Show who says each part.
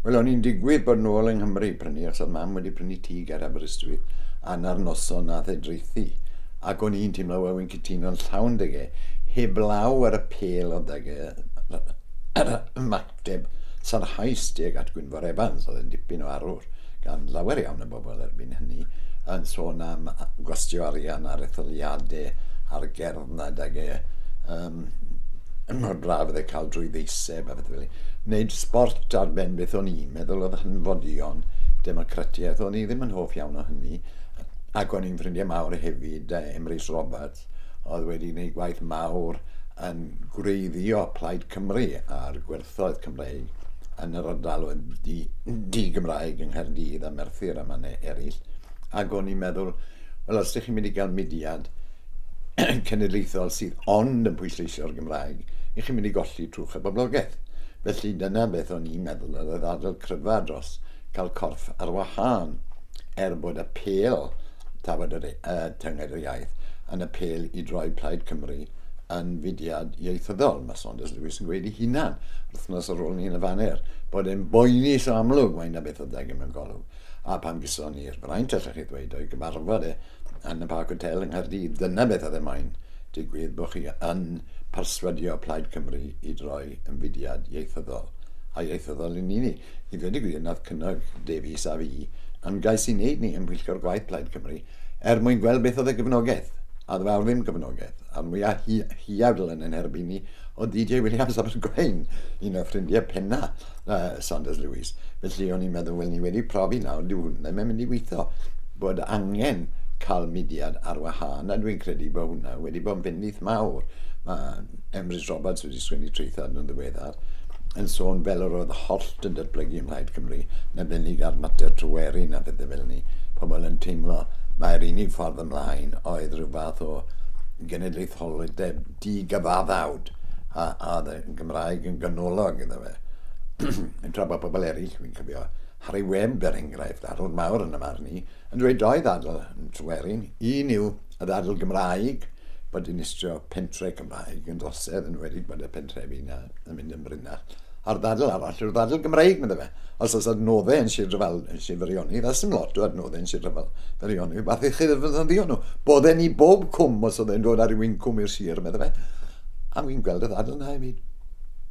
Speaker 1: Wel, o'n i'n digwydd bod nôl yng Nghymru prynu, achos oedd mam wedi prynu tŷ ger Aberystwyth, a 'na'r noson nath e draethu. Ac o'n i'n teimlo, wel, wi'n cytuno'n llawn 'da e. Heblaw ar y pêl oedd 'da e, yr ymateb sarhaus tuag at Gwynfor Evans, oedd e'n dipyn o arwr gan lawer iawn o bobl erbyn hynny, yn sôn am gwastio arian ar etholiadau a'r gerdd 'na 'da e. yn mor braf oedd e cael drwy ddeiseb a beth fel Wneud sbort ar ben beth o'n i'n meddwl oedd hanfodion democratiaeth. O'n i ddim yn hoff iawn o hynny. Ac o'n i'n ffrindiau mawr hefyd, Emrys Roberts, oedd wedi gwneud gwaith mawr yn gwreiddio Plaid Cymru a'r gwerthoedd Roedd Cymreig yn yr ardal oedd di, di Gymraeg yng Nghaerdydd a Merthyr a manne eraill. Ac o'n i'n meddwl, wel, os ydych chi'n mynd i gael mudiad cenedlaethol sydd ond yn pwysleisio'r Gymraeg, ych chi'n mynd i golli trwch y boblogaeth. Felly dyna beth o'n i'n meddwl, yr oedd ardal cryfa dros cael corff ar wahân, er bod y pel, tafod yr, uh, tyngaid yr iaith, yn y pel i droi Plaid Cymru yn fudiad ieithyddol. Mae Saunders Lewis yn gweud ei hunan, wythnos ar ôl ni yn y faner, bod e'n boeni so amlwg mae yna beth adeg mewn golwg. A pan gyson ni'r fraint, allech chi ddweud, o'i gyfarfod e yn y Parc Hotel yng Nghaerdydd, dyna beth oedd e moyn, digwydd bod chi yn perswadio Plaid Cymru i droi yn fudiad ieithyddol, a ieithyddol yn unig. I ddweud y gwir, nath cynnog Davies a fi ymgais i wneud ni ym Mhwyllgor Gwaith Plaid Cymru, er mwyn gweld beth oedd y gefnogaeth, a ddwawr ddim gefnogaeth, a'r mwya hiadl yn ein herbyn ni oedd DJ Williams Abergwaun, un o ffrindiau penna uh, Saunders Lewis. Felly o'n i'n meddwl, wel ni wedi profi nawr, dyw hwnna ddim yn mynd i weithio, bod angen cael mudiad ar wahân, a dwi'n credu bod hwnna wedi bod yn fyndith mawr. Mae Emrys Roberts Misus Wini Treuthard yn ddiweddar, yn sôn fel yr oedd hollt yn datblygu ym Mhlaid Cymru, yn arbennig ar mater Tryweryn a phethau fel ni, pobl yn teimlo mai'r unig ffordd ymlaen oedd rhyw fath o genedlaetholdeb di-gyfaddawd, a oedd y Gymraeg yn ganolog iddo fe. Tra bod pobl eraill, fi'n cofio Harri Webb er enghraifft, arwr mawr yn y marn i, yn dweud doedd ddadl yn Tryweryn, un yw y ddadl Gymraeg, bod dinistrio pentre Mae gymdogaeth yn enwedig bod y pentrefi yna yn mynd yn brinach. A'r ddadl arall yw'r ddadl Gymreig, medda fe. Os oes adnoddau yn Sir Dryfal, yn Sir Feirionydd, a sdim lot o adnoddau yn Sir Dryfal, Feirionydd, werth i chi ddefnyddio nhw. Bod e'n i bob cwm os oedd e'n dod â rhyw incwm i'r sir, medda fe. A fi'n gweld y ddadl yna hefyd.